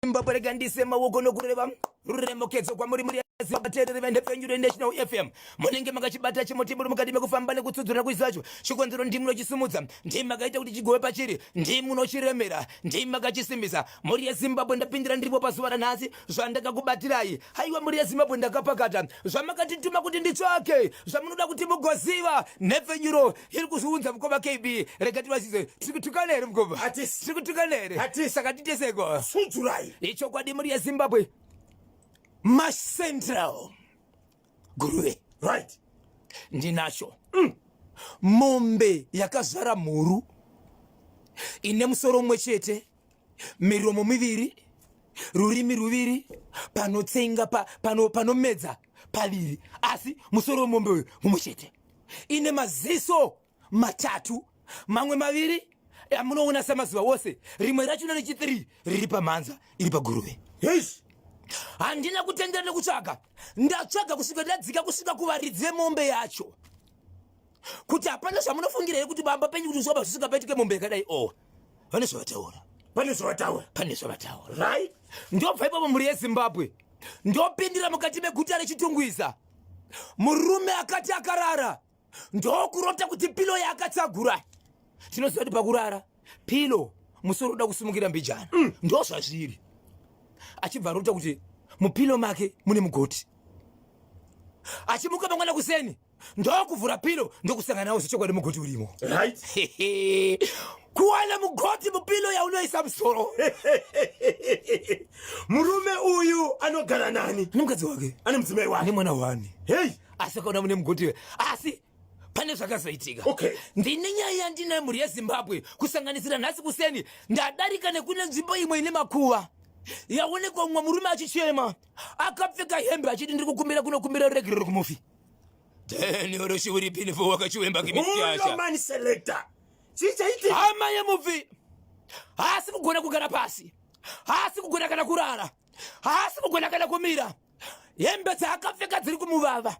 Zimbabwe rega ndise maoko nokureva ruremokedzo kwamuri muri vateereri venhepfenyuro yenational fm munenge makachibata chimotiburi mukati mekufamba nekutsudzura kuzi zacho chikonzero ndimi munochisimudza ndimi makaita kuti chigove pachiri ndimi munochiremera ndimi makachisimbisa mhuri yezimbabwe ndapindira ndiripo pazuva ranhasi zvandakakubatirai haiwa mhuri yezimbabwe ndakapakata zvamakatituma kuti nditsvake zvamunoda kuti mugoziva nhepfenyuro iri kuzviunza mukoma kb rega tivazise tiri kutukana here mukoma tiri kutukana here saka titeseko sudzurai ichokwadi muri yezimbabwe macentral guruve right ndinacho mm. mombe yakazvara mhuru ine musoro umwe chete miromo miviri rurimi ruviri panotsenga pa, pano, panomedza paviri asi musoro wemombe uyu mumwe chete ine maziso matatu mamwe maviri amunoona samazuva wose rimwe racho na rechi3 riri pamhanza iri paguruve yes handina kutendera nekutsvaga ndatsvaga kusvika ndadzika kusvika kuvaridzi vemombe yacho kuti hapana zvamunofungira here kuti bamba penyu kuti zvoba zvisingapaitike mombe yakadai owa oh. vane zvavataura pane zvavataura pane zvavataura right ndobva ipapo mhuri yezimbabwe ndopindira mukati meguta rechitungwiza murume akati akarara ndokurota kuti pilo yaakatsagura tinoziva kuti pakurara pilo musoro uda kusimukira mbijana mm. ndo zvazviri achibva arota kuti mupilo make mune mugoti achimuka mangwana kuseni ndokuvhura pilo ndokusangana nawo zvechokwadi mugoti urimo kuwana mugoti mupilo yaunoisa musoro murume uyu anogara nani ane mukadzi wake ane mudzimai wake ane mwana wani hei asi akaona mune mugoti we asi pane zvakazoitika okay. ndine nyaya yandine mhuri yezimbabwe kusanganisira nhasi kuseni ndadarika nekune nzvimbo imwe ine makuva yaonekwa mumwe murume achichema akapfeka hembe achiti ndiri kukumbira kunokumbira ruregerero kumufi Then oroshi uri pini fo wakachiwemba kimityasha. Uno man selector. Chichaiti. Hama yemufi. Haasi kugona kugara pasi. Haasi kugona kana kurara. Haasi kugona kana kumira. Hembe dzaakapfeka dziri kumuvava.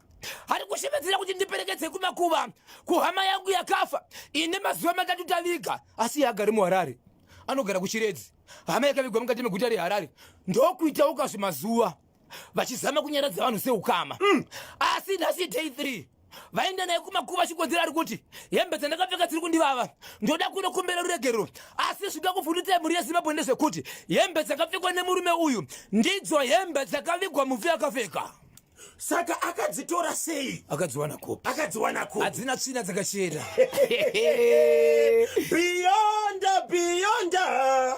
Ari kushevedzera kuti ndiperekedze kumakuva kuhama yangu yakafa ine mazuva matatu taviga asi yaagari muharare anogara kuchiredzi hama yakavigwa mukati meguta reharare ndokuitawo kazvimazuva vachizama kunyaradza vanhu seukama mm. asi nhasi day 3 vaenda naye kumakuva chikonzero ari kuti hembe dzandakapfeka dziri kundivava ndoda kunokumbira ruregerero asi zvida kuvhundutsai mhuri yezimbabwe ndezvekuti hembe dzakapfekwa nemurume uyu ndidzo hembe dzakavigwa mufi akapfeka saka akadzitora sei akadziwana kupi akadziwana kupi hadzina tsvina dzakachena beyonda beyonda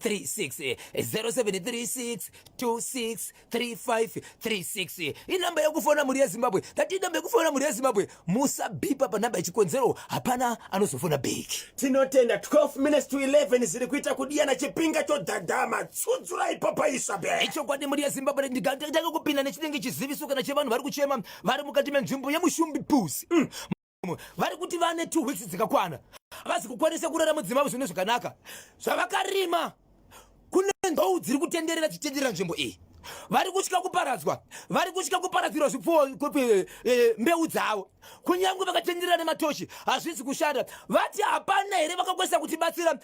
36 inamba yekufona mhuri yezimbabwe tati inamba yekufona mhuri yezimbabwe musabhipa panamba yechikonzero hapana anozofona bek tinotenda 12 minutes to 11 ziri kuita kudiyana chipinga chodhadhama tsudzurai papaisa be ichokwadi mhuri yezimbabwe ndigatanga kupinda nechinenge chiziviso kana chevanhu vari kuchema vari mukati menzvimbo yemushumbi pusi mm. mumwe vari kuti vane two weeks dzikakwana havazi kukwanisa kurara mudzima avo zvine zvakanaka zvavakarima kune ndou dziri kutenderera chitenderera nzvimbo iyi vari kutya kuparadzwa vari kutya kuparadzirwa zvipfuwo eh, eh, mbeu dzavo kunyange vakatenderera nematoshi hazvisi kushanda vati hapana here vakakwanisa kutibatsira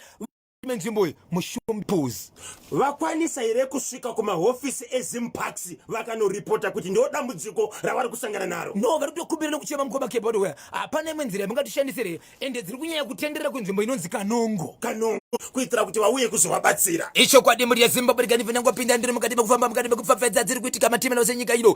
menzvimbo iyi mushumpus vakwanisa here kusvika kumahofisi ezimparks vakanoripota kuti ndo dambudziko ravari kusangana naro no vari kutokumbira nekuchema mukoma keyboard where hapana imwe nzira yamungatishandisire ende dziri kunyanya kutenderera kunzvimbo inonzi kanongo kanongo kuitira kuti vauye kuzovabatsira ichokwadi mhuri yezimbabwe reganivenangopinda ndiri mukati mekufamba mukati mekupfapfedza dziri kuitika matimela senyika ino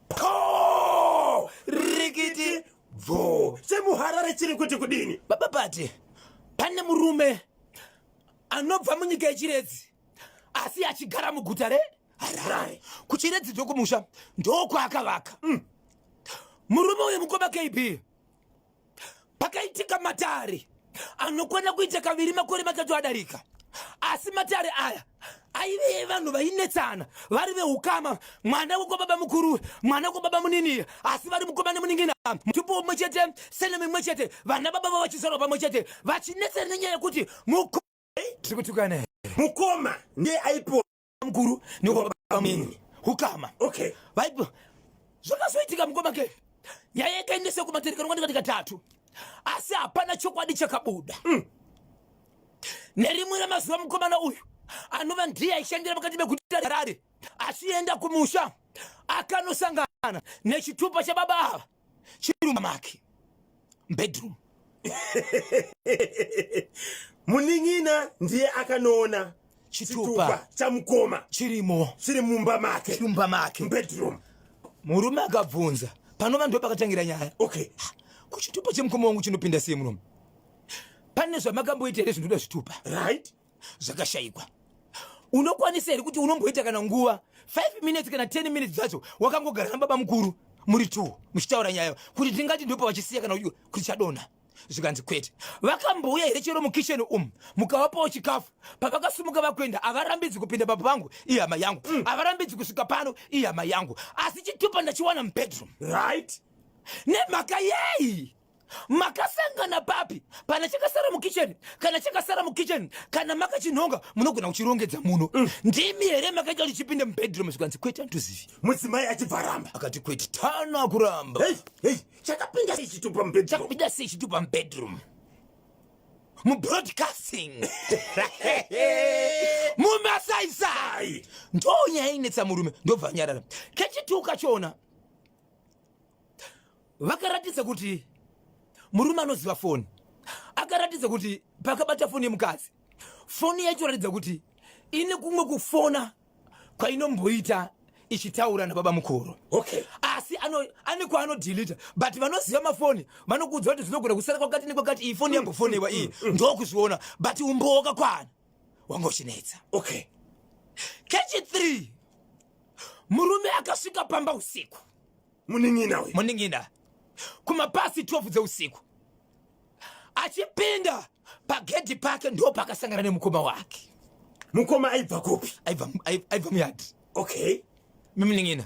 po rikiti bvo semuharare chiri kuti kudini baba pati pane murume anobva munyika yechiredzi asi achigara muguta re harare kuchiredzi ndokumusha ndokwaakavaka mm. murume uyu mukoma kb pakaitika matare anokwana kuita kaviri makore matatu adarika asi matare aya aive evanhu vainetsana vari veukama mwana wekwababa mukuru mwana wekwababa munini asi vari mukomana muningina mutupo womwe chete sene mimwe chete vana baba va vachizvarwa pamwe chete vachinetsana nenyaya yekuti mukoma ndiye aipo mukuru nekwabamunini hukama okay vaipo zvakazoitika mukoma ke nyaya yakaendesa kumaterekano kwandika ndikatatu asi hapana chokwadi chakabuda mm. nerimwe ramazuva mukomana uyu anova ndiye aishandira pakati pekuta harare achienda kumusha akanosangana nechitupa chababa ava chiruma make bedroom munin'ina ndiye akanoona chitupa chamukoma chirimo chiri mumba make chiri mumba make bedroom murume akabvunza panova ndo pakatangira nyaya okay kuchitupa chemukoma wangu chinopinda sei murume pane zvamakamboita here zvinoda zvitupa right zvakashaikwa unokwanisa here kuti unomboita kana nguva 5 minutes kana 10 minutes dzacho wakangogara nababa mukuru muri two muchitaura nyaya kuti tingati ndopa vachisiya kana uyu kuti chadonha zvikanzi kwete vakambouya here chero mukisheni umu mukavapawo chikafu pavakasumuka vakuenda havarambidzi kupinda baba vangu ihama yangu mm. havarambidzi kusvika pano ihama yangu asi chitupa ndachiwana mubedroom right nemhaka yei makasangana papi pana chakasara mukitchen kana chakasara mukitchen kana makachinhonga munogona kuchirongedza muno mm. ndimi here makaita kuti chipinde mubedroom zvikanzi kwete andizivi mudzimai achibva ramba akati kwete tana kuramba chakapinda sei chitupa mubedroom chakapinda sei chitupa mubedroom mubroadcasting mumasaisai ndonyaya inetsa murume ndobva anyarara kechituka chona vakaratidza kuti murume anoziva foni akaratidza kuti pakabata foni yemukadzi foni yacho ratidza kuti ine kumwe kufona kwainomboita ichitaura nababa mukuru okay. asi ane kwaanodhilita but vanoziva mafoni vanokuudza kuti zvinogona kusara kwakati nekwakati iyi foni yambofonewa iyi mm, mm, ndokuzviona but umbowo wakakwana wanga uchinetsa okay. kechi 3 murume akasvika pamba usiku munin'ina uyu munin'ina kumapasi 12 dzeusiku achipinda pagedhi pake ndo pakasangana nemukoma wake mukoma aibva kupi aibva muyadi okay mimunin'ina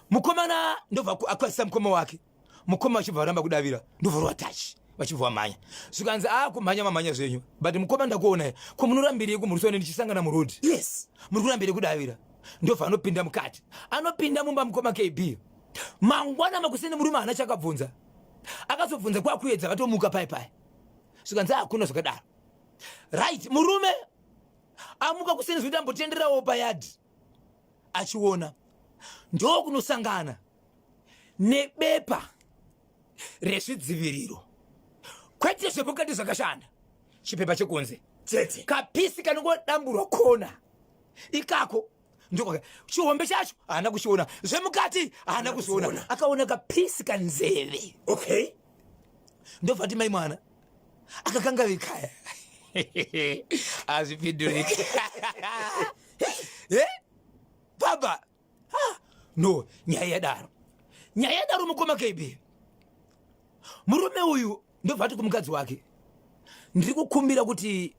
mukomana ndobva akwazisa mukoma wake mukoma vachibva varamba kudavira ndobva rwatachi vachibva vamhanya zvikanzi a ah, kumhanya mamhanya zvenyu but mukoma ndakuonai ko munorambirei kumhurisa ine ndichisangana muroad yes muri kurambirei kudavira ndobva anopinda mukati anopinda mumba mukoma kb mangwana makuseni murume haana chakabvunza akazobvunza kwakuedza vatomuka pai pai zvikanzi hakuna zvakadaro right murume amuka kuseni zvekuti ambotendererawo payadhi achiona ndokunosangana nebepa rezvidziviriro kwete zvepokati zvakashanda chipepa chekunze chete kapisi kanongodamburwa kona ikako ndokwaka chihombe chacho haana kuchiona zvemukati haana kuziona akaona kapisi kanzeve okay ndobva ti mai mwana akakangavikaya hazvipinduriki eh? baba ha no nyaya yadaro nyaya yadaro mukoma kb murume uyu ndobva ati kumukadzi wake ndiri kukumbira kuti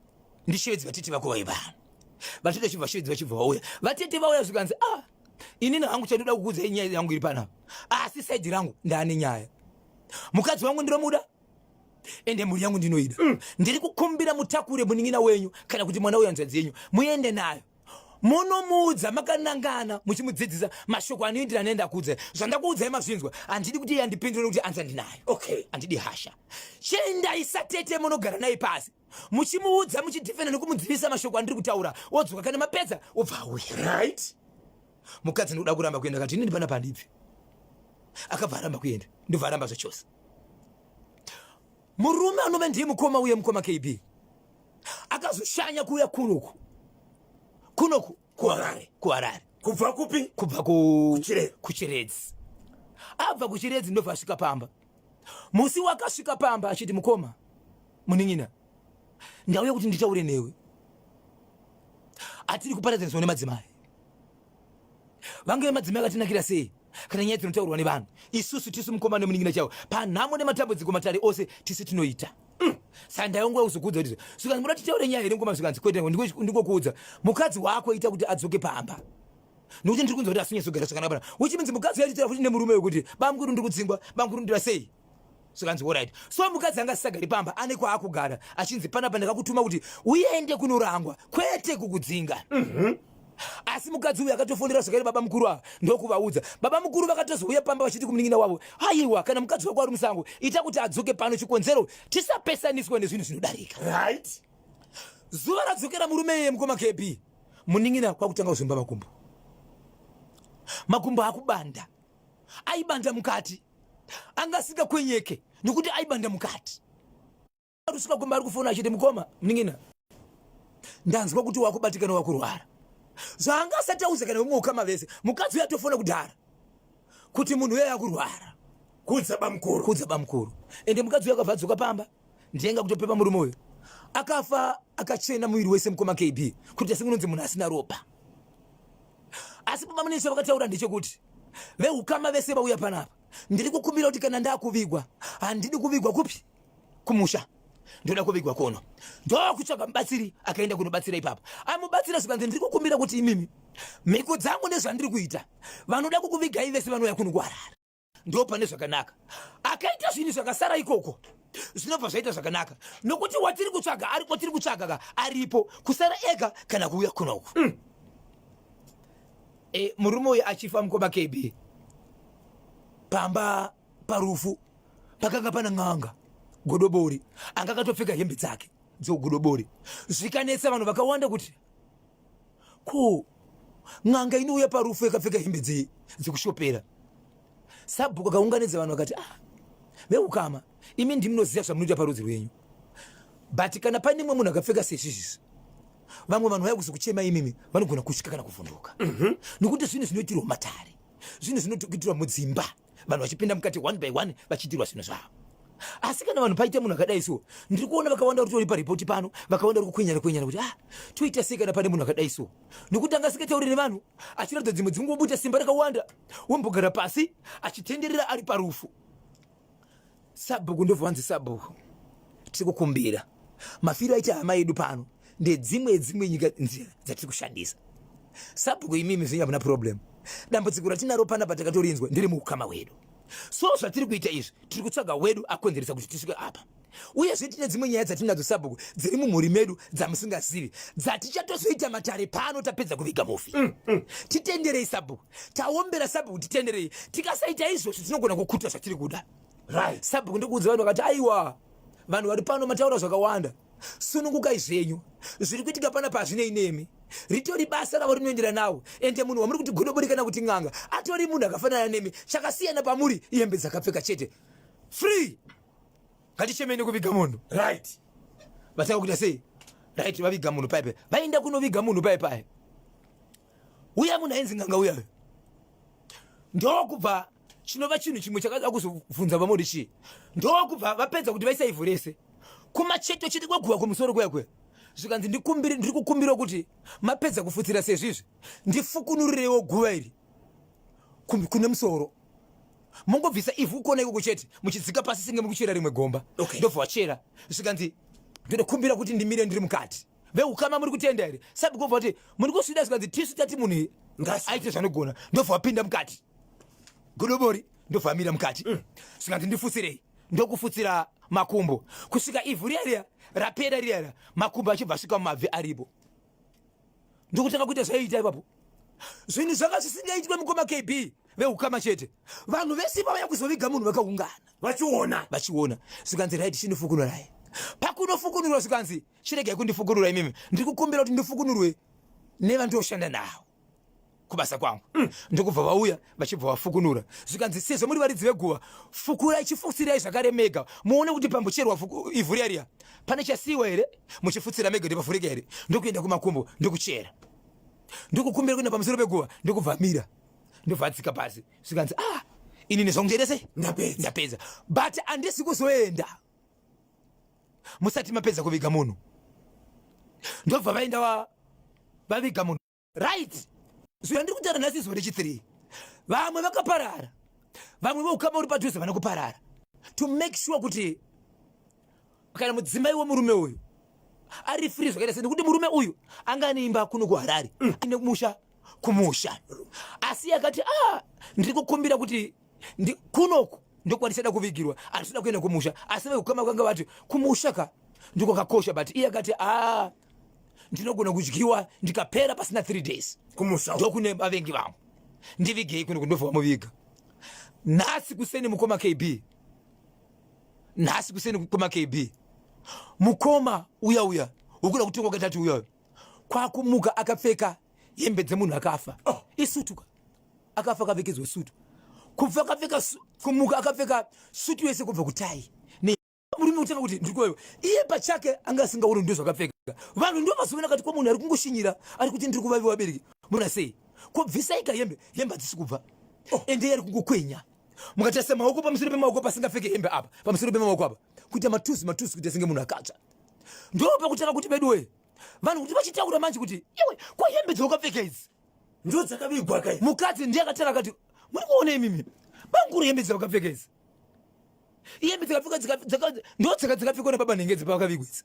ndishevedzi vatete vako vaiva vatete chibva shevedzi vachibva vauya vatete vauya zvikanzi ah inini hangu chandoda kukudzai nyaya yangu iri panapa asi saidi rangu ndaane nyaya mukadzi wangu ndinomuda ende mhuri yangu ndinoida mm. ndiri kukumbira mutakure munin'ina wenyu kana kuti mwana wehanzvadzi yenyu muende nayo munomuudza makanangana muchimudzidzisa mashoko anoindira nenda kuudza zvandakuudzai mazvinzwa handidi kuti yandipindure kuti anza ndinayo okay handidi hasha chendai satete munogara naye pasi muchimuudza muchidhifenda nekumudzivisa mashoko andiri kutaura wodzoka kana mapedza wobva auya right mukadzi ndikuda kuramba kuenda kati ini ndipana pandibvi akabva aramba kuenda ndobva aramba zvachose Murume anove ndiye mukoma uye mukoma KB akazoshanya kuuya kunoku kunoku kuharare kuharare kubva kupi kubva kuchiredzi abva kuchiredzi ndobva asvika pamba musi wakasvika pamba achiti mukoma munin'ina ndauya kuti nditaure newe atiri kuparadzanisa nemadzimai vange vemadzimai akatinakira sei kana nyaya dzinotaurwa nevanhu isusu tisu mukoma nemunin'ina chavo panhamo nematambudziko matare ose tisu tinoita mm. saka ndaiongoa kuzokuudza kuti zvikanzi muda titaure nyaya here mukoma zvikanzi kwete ndikokuudza mukadzi wako ita kuti adzoke pamba nokuti ndiri kunzwa kuti asinyatsogara zvakanaka pana which means mukadzi yaitira kuti nemurume wekuti bamukuru ndiri kudzingwa bamukuru ndira sei zvikanzi orit so mukadzi anga asisagari pamba ane kwaakugara achinzi panapa ndakakutuma kuti uende kunorangwa kwete kukudzinga mm -hmm asi mukadzi uyu akatofonera zvakare baba mukuru ava ndokuvaudza baba mukuru vakatozouya pamba vachiti kumunin'ina wavo haiwa kana mukadzi wako ari musango ita kuti adzoke pano chikonzero tisapesaniswa nezvinhu zvinodarika right zuva radzokera murume iye mukoma kb munin'ina kwakutanga kuzomba makumbo makumbo akubanda aibanda mukati anga asingakwenyeke nekuti aibanda mukati rusika kumba ari kufona achiti mukoma mningina ndanzwa kuti wakubatikana wakurwara zvaanga asati auza kana umwe ukama vese mukadzi uyo atofona kudhara kuti munhu uyo yakurwara kudza bamukuru kudza bamukuru ende mukadzi uyo akabva adzoka pamba ndiyenga kutopepa murume uyo akafa akachena muviri wese mukoma kb kuti asingunonzi munhu asina ropa asi baba munini chavakataura ndechekuti vehukama vese vauya panapa ndiri kukumbira kuti kana ndakuvigwa handidi kuvigwa kupi kumusha ndoda kuvigwa kuno ndokutsvaga mubatsiri akaenda kunobatsira ipapo amubatsira zvikanzi ndiri kukumbira kuti imimi mhiko dzangu nezvandiri kuita vanoda kukuvigaive sevanouya kuno kuharare ndo pane zvakanaka akaita zvinhu zvakasara ikoko zvinobva zvaita zvakanaka nokuti watiri kutsvaga ari kwatiri kutsvaga ka aripo kusara ega kana kuuya kuna uku mm. e, murume uyu achifa mukoma kb pamba parufu pakanga pana n'anga godobori anga akatopfeka hembe dzake dzogodobori zvikanetsa vanhu vakawanda kuti ko n'anga inouya parufu yakapfeka hembe dzei dzekushopera sabhuku akaunganidza vanhu vakati ah veukama imi ndimunoziva zvamunoita parudzi rwenyu but kana pane mwe munhu akapfeka sezvizvizvi vamwe vanhu vaya kuzokuchema imimi vanogona kusvika kana kuvhunduka mhm. nokuti zvinhu zvinoitirwa matare zvinhu zvinoitirwa mudzimba vanhu vachipinda mukati one by one vachiitirwa zvinhu zvavo asi kana vanhu paita munhu akadai so ndiri kuona vakawanda uri tori paripoti pano vakawanda uri kukwenyana kwenyana kuti ah toita sei kana pane munhu akadai so nokuti anga asingatauri nevanhu achiratidza dzimwe dzingubuta simba rakawanda wombogara pasi achitenderera ari parufu Sabhuku ndobva wanzi sabhuku, tiri kukumbira mafiro aita hama yedu pano ndedzimwe dzimwe nyika nzira dzatiri kushandisa. Sabhuku imimi zvenyu hamuna problem, dambudziko ratinaro pana patakatorinzwa ndiri muukama hwedu, so zvatiri kuita izvi tiri kutsvaga wedu akonzeresa kuti tisvike apa uyezve tine dzimwe nyaya dzatinadzo sabhuku dziri mumhuri medu dzamusingazivi dzatichatozvoita matare pano tapedza kuviga mufi mm, mm. titenderei sabhuku taombera sabhuku titenderei tikasaita izvozvo tinogona kukuta zvatiri kuda right. sabhuku ndikuudza vanhu vakati aiwa vanhu vari pano mataura zvakawanda sunungukai zvenyu zviri kuitika pana pazvinei nemi ritori basa ravo rinoendera nawo ende munhu wamuri kuti godobori kana kuti n'anga atori munhu akafanana nemi chakasiyana pamuri ihembe dzakapfeka chete free ngatichemeni kuviga munhu right vatanga kuita sei right vaviga munhu paipai vaenda kunoviga munhu paipai uya munhu ainzi nganga uya ndokubva chinova chinhu chimwe chakada kuzobvunza vamodi chii ndokubva vapedza kuti vaisa ivhu rese kumacheto chete kweguva kumusoro kuya kuya zvikanzi ndiri kukumbira kuti mapedza kufutsira sezvizvi ndifukunurirewo guva iri kune musoro mongobvisa ivhu kuona ikoko chete muchidzika pasi senge mukuchera rimwe gomba ndobva wachera zvikanzi ndinokumbira kuti ndimire ndiri mukati vehukama muri kutenda here sabikova kuti muri kusvida zvikanzi tisu tati munhu aite zvanogona ndobva wapinda mukati godobori ndobva amira mukati mm. zvikanzi ndifutsirei ndokufutsira makumbo kusvika ivhu riya riya rapera riya riya makumbo achibva asvika mumabvi aripo ndokutanga kuita zvaiita ipapo zvinhu zvanga zvisingaitwe mukoma kb veukama chete vanhu vese vavaya kuzoviga munhu vakaungana vachiona vachiona zvikanzi raiti chinofukunurai pakunofukunurwa zvikanzi chiregai kundifukunura imimi ndiri kukumbira kuti ndifukunurwe nevandoshanda nawo kubasa kwangu mm. ndokubva vauya vachibva vafukunura zvikanzi sezvo muri varidzi veguva fukurai chifutsirai zvakare mega muone kuti pambocherwa ivhu riya riya pane chasiiwa here muchifutsira mega kuti pavhurika here ndokuenda kumakumbo ndokuchera ndokukumbira kuenda pamusoro peguva ndokubva mira ndobva adzika pasi zvikanzi ah inini zvangu chaita sei ndapedza but andisi kuzoenda musati mapedza kuviga munhu ndobva vaenda wa vaviga munhu right so yandiri kutaura nhasi izuva rechithree vamwe vakaparara vamwe veukama uri padhuze vana kuparara to make sure kuti kana mudzimai wemurume uyu ari free zvakaita se nekuti murume uyu anga ane imba kuno kuharare mm. ine musha kumusha asi akati a ah, ndiri kukumbira kuti kunoku ndokwatisada kuvigirwa atisada kuenda kumusha asi vekukama kwanga vati kumusha ka ndiko kakosha but iye akati a ah, ndinogona kudyiwa ndikapera pasina three days kumusha ndokune vavengi vangu ndivigei kuno kundobva vamuviga nhasi kuseni mukoma kb nhasi kuseni mukoma kb mukoma uya uya ukuda kutongwa katatu uya uya kwakumuka akapfeka hembe dzemunhu akafa oh. isutuka akafa akapfekedzwa sutu kubva akapfeka kumuka akapfeka sutu yese kubva kutai murume kutanga kuti ndirikoyo iye pachake anga asingaoni ndo zvakapfeka vanhu ndo vazoona kati kwamunhu ari kungoshinyira ari kuti ndiri kuvavi vabereki mona sei kobvisaika hembe hembe hadzisi kubva oh. ende yari kungokwenya mukatarisa maoko pamusoro pemaoko pasingapfeke hembe apa pamusoro pemaoko apa kuita matusi matusi kuita senge munhu akatsva ndo pakutanga kuti veduwe vanhu kuti vachitaura manje kuti iwe kwahembe dzaukapfeka idzi Ndo dzakavigwa kai. Mukadzi ndiye akatara akati muri kuona imimi. Banguru hembe dzakapfeka idzi. Hembe dzakapfeka dzaka ndo dzaka dzakapfekwa na baba nenge dzipa vakavigwa idzi.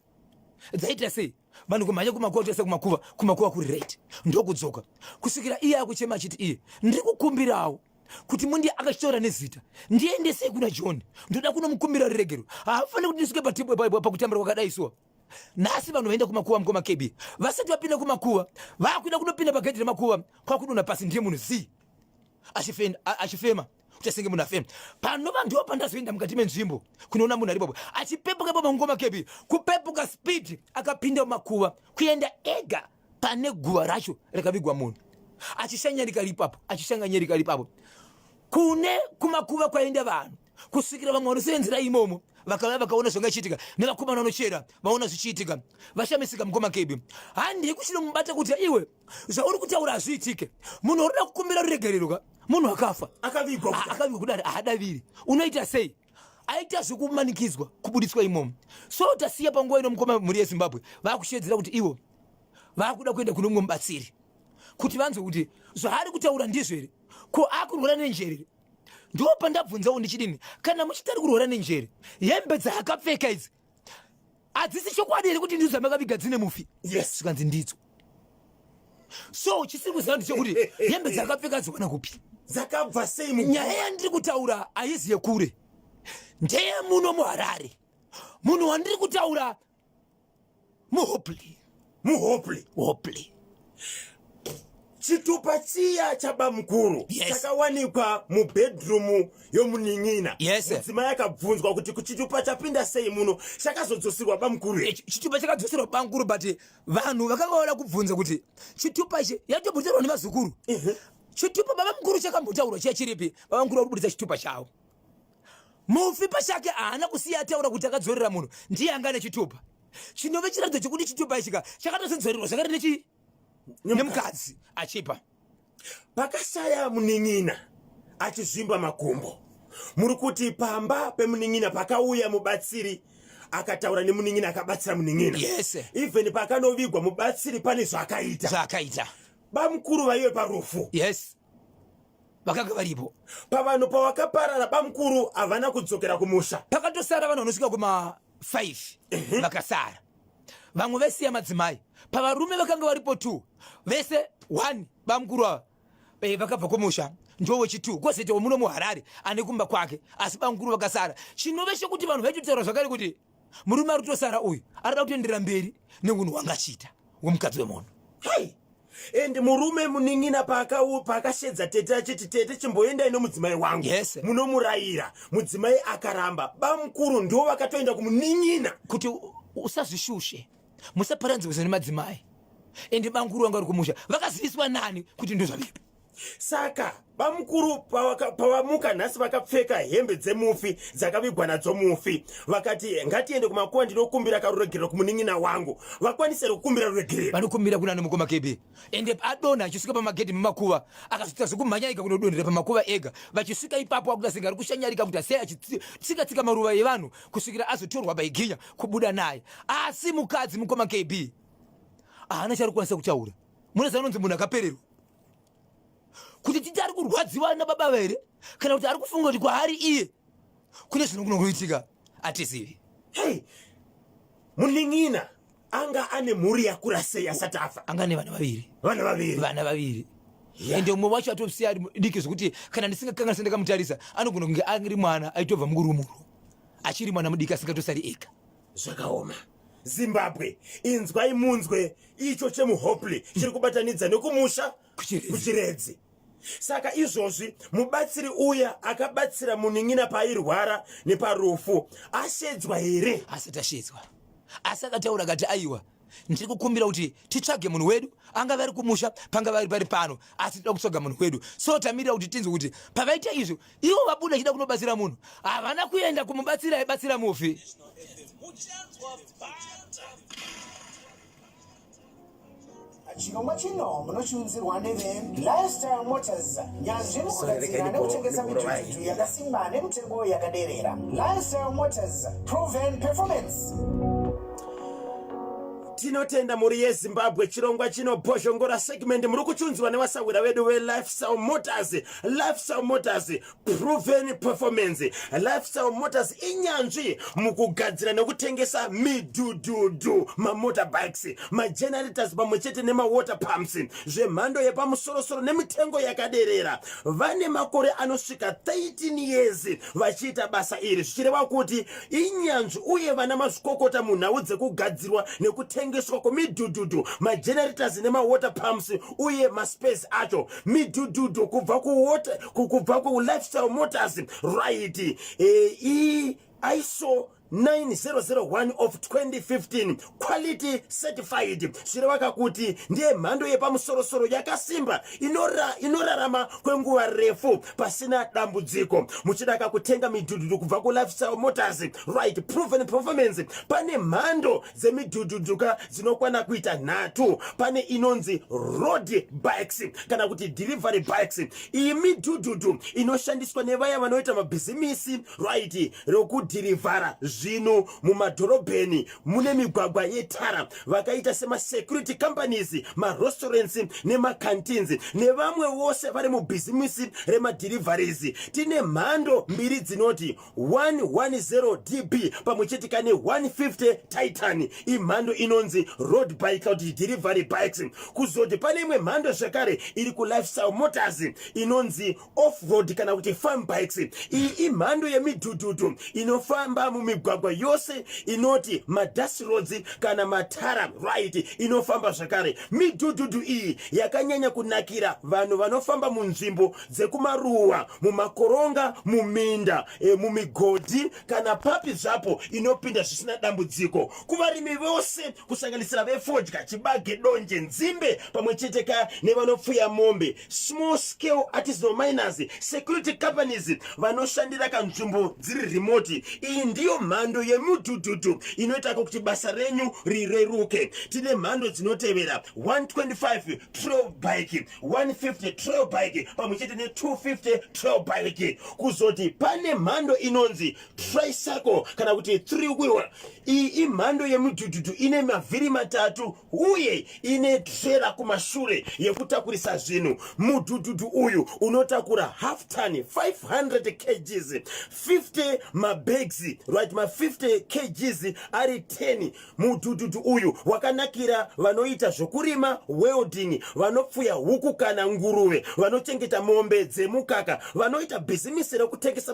Dzaita sei? Vanhu kumhanya kumakuva tose kumakuva kumakuva kuri right. Ndokudzoka. Kusvikira iye akuchema achiti iye ndiri kukumbirawo kuti mundi akashora nezita ndiendesei kuna john ndoda kunomukumbira ruregero haafaniri kuti ndisuke pakutambira kwakadai suwa Nhasi vanhu vaenda kumakuva mukoma KB vasati vapinda kumakuva vakuenda kunopinda pagedhi remakuva kwakudona pasi ndiye munhu zii achifema uchasenge munhu afema pano vanhu ndiwo pandazoenda mukati menzvimbo kunoona munhu ari bobo achipepuka ipapo mukoma KB kupepuka speed akapinda mumakuva kuenda ega pane guva racho rakavigwa munhu achishanyarika ripapo achishanganyarika ripapo kune kumakuva kwaenda vanhu kusvikira vamwe vanosevenzera imomo vakauya vakaona zvanga ichiitika nevakomana vanochera vaona zvichiitika vashamisika mukoma kebi handei kuchinomubata kuti iwe zvauri kutaura hazviitike munhu waruda kukumbira ruregererwa munhu akafa akavigwa ah, akavigwa kudari haadaviri unoita sei aita zvekumanikidzwa kubuditswa imomo so tasiya panguva ino mukoma mhuri yezimbabwe vakushedzera kuti ivo vakuda kuenda kune mumwe mubatsiri kuti vanzwe kuti zvaari kutaura ndizvo here ko akurwara nenjerere ndiwo pandabvunzawo ndichidini kana muchitari kurwara nenjere hembe dzaakapfeka idzi hadzisi chokwadi here kuti ndidzo dzamakaviga dzine mufi yes zvikanzi ndidzo so chisiri kuziva ndichokuti hembe dzakapfeka dziwana kupi dzakabva sei nyaya yandiri kutaura haizi yekure ndeye muno muharare munhu wandiri kutaura muhopli muhopli hopli chitupa chiya chabamukuru yes. chakawanikwa mubhedrumu yomunin'ina yes. mudzimai akabvunzwa kuti kuchitupa chapinda sei muno chakazodzosirwa bamukuru eh, chitupa chakadzoserwa bamukuru but vanhu vakanga vada kubvunza kuti chitupa ichi yatobudirwa nevazukuru uh -huh. chitupa baba mukuru chakambotaurwa chiya chiripi baba mukuru vakubuditsa chitupa chavo Mufi pachake haana kusiya ataura kuti akadzorera munhu ndiye anga ane chitupa chinove chiratidzo chekuti chitupa ichika chakatozodzorerwa zvakati nechi nemukadzi achipa pakasaya munin'ina achizvimba makumbo muri kuti pamba pemunin'ina pakauya mubatsiri akataura nemunin'ina akabatsira munin'ina yes. even pakanovigwa mubatsiri pane zvaakaita zvaakaita bamukuru vaive parufu yes vakanga varipo pavanhu pawakaparara bamukuru havana kudzokera kumusha pakatosara vanhu vanosvika kuma 5 vakasara vamwe vesiya madzimai pavarume vakanga varipo t vese 1 bamukuru ava eh, vakabva kumusha ndovo chi t kozoitawo muno muharare ane kumba kwake asi bamukuru vakasara chinove chekuti vanhu vaitotaura zvakare kuti murume ari kutosara uyu arida kutoenderera mberi neunhu hwanga achiita wemukadzi wemunhu hey! and murume munin'ina paakashedza tete achiti tete chimboendai nomudzimai wangu yes. munomurayira mudzimai akaramba bamukuru ndo vakatoenda kumunin'ina kuti usazvishushe musaparanzirwisa nemadzimai ende bamukuru vanga vari kumusha vakaziviswa nani kuti ndozvavipi saka bamukuru pavamuka nhasi vakapfeka hembe dzemufi dzakavigwa nadzo mufi vakati ngatiende kumakuva ndinokumbira karuregerero kumunin'ina wangu vakwanise rekukumbira ruregerero vanokumbira kuna nomukoma kebe ende adona achisvika pamagedhi memakuva akazoita zvekumhanyaika kunodonhera pamakuva ega vachisvika ipapo akuda senga ari kushanyarika kuti asei achitsikatsika maruva evanhu kusvikira azotorwa baiginya kubuda naye asi mukadzi mukoma kb haana charikukwanisa kutaura mune zaanonzi munhu akapererwa kuti titi ari kurwadziwa nababa vere kana kuti ari kufunga kuti kwaari iye kune zvinokuno kuitika atizivi hey, munin'ina anga ane mhuri yakura sei asati afa anga ane vana vaviri vana vaviri vana vaviri ende umwe wacho atosiya ari diki zvekuti kana ndisingakanga ndisati ndakamutarisa anogona kunge ari mwana aitobva mukurumurwa achiri mwana mudiki asingatosari ega zvakaoma zimbabwe inzwai munzwe icho chemuhopley chiri kubatanidza nekumusha kuchiredzi saka izvozvi mubatsiri uya akabatsira munin'ina paairwara neparufu ashedzwa here asati ashedzwa asi akataura akati aiwa ndiri kukumbira kuti titsvage munhu wedu angave ari kumusha pangave ari pari pano asi tida kutsvaga munhu wedu so tamirira kuti tinzwe kuti pavaita izvo ivo vabuda chida kunobatsira munhu havana kuenda kumubatsira aibatsira mufi chirongwa chino munochiunzirwa nevelifestyle motors nyanzvi mukugadzira nekutengesa mitutu yakasimba nemitengo yakaderera lifestyle motors proven performance tinotenda mhuri yezimbabwe chirongwa chino bhozhongora segment muri kuchiunzirwa nevasahwira vedu velifestyle motors lifestyle motors proven performance lifestyle motors inyanzvi mukugadzira nekutengesa midhudhudhu mamotorbikes magenerators pamwe chete nemawater pumps zvemhando yepamusorosoro nemitengo yakaderera vane makore anosvika 13 years vachiita basa iri zvichireva kuti inyanzvi uye vana mazvikokota munhau dzekugadzirwa nekutengeswa kwemidhudhudhu magenerators nemawater pumps uye maspace acho midhudhudhu kubva kuwater kubva kulifestyle motors right e, e, iso 9001 of 2015 quality certified zvinovaka kuti ndiye mhando yepamusorosoro yakasimba inora, inorarama kwenguva refu pasina dambudziko muchidaka kutenga midhudhudhu kubva kulifestyle motors right proven performance pane mhando dzemidhudhudhuka dzinokwana kuita nhatu pane inonzi road bikes kana kuti delivery bikes iyi midhudhudhu inoshandiswa nevaya vanoita mabhizimisi right rokudhirivhara zvinhu mumadhorobheni mune migwagwa yetara vakaita semasecurity companies marestaurants nemacantins nevamwe vose vari mubhizimisi remadhirivharies tine mhando mbiri dzinoti 110 db pamwe chete kane 150 titan imhando inonzi road bike kana kuti delivery bikes kuzoti pane imwe mhando zvakare iri kulifestyle motors inonzi offroad kana kuti farm bikes iyi imhando yemidhudhudhu inofamba mumigwagwa yose inoti madust roads kana matara right inofamba zvakare midhudhudhu iyi yakanyanya kunakira vanhu vanofamba munzvimbo dzekumaruwa mumakoronga muminda e, mumigodhi kana papi zvapo inopinda zvisina dambudziko kuvarimi vose kusanganisira vefodya chibage donje nzimbe pamwe chete ka nevanopfuya mombe small scale artisanal miners security companies vanoshandira kanzvimbo dziri remoti iyi ndiyo mhando yemudhudhudhu inoita kuti basa renyu rireruke tine mhando dzinotevera 125 trol bike 150 trail bike pamwe chete ne250 trail bike kuzoti pane mhando inonzi tricycle kana kuti three wheeler iyi imhando yemudhudhudhu ine mavhiri matatu uye ine trera kumashure yekutakurisa zvinhu mudhudhudhu uyu unotakura half ton 500 kgs 50 mabags right ma 50 kgs ari 10 Mudhudhudhu uyu wakanakira vanoita zvokurima, welding, vanopfuya huku kana nguruve, vanochengeta mombe dzemukaka, vanoita bhizimisi rekutengesa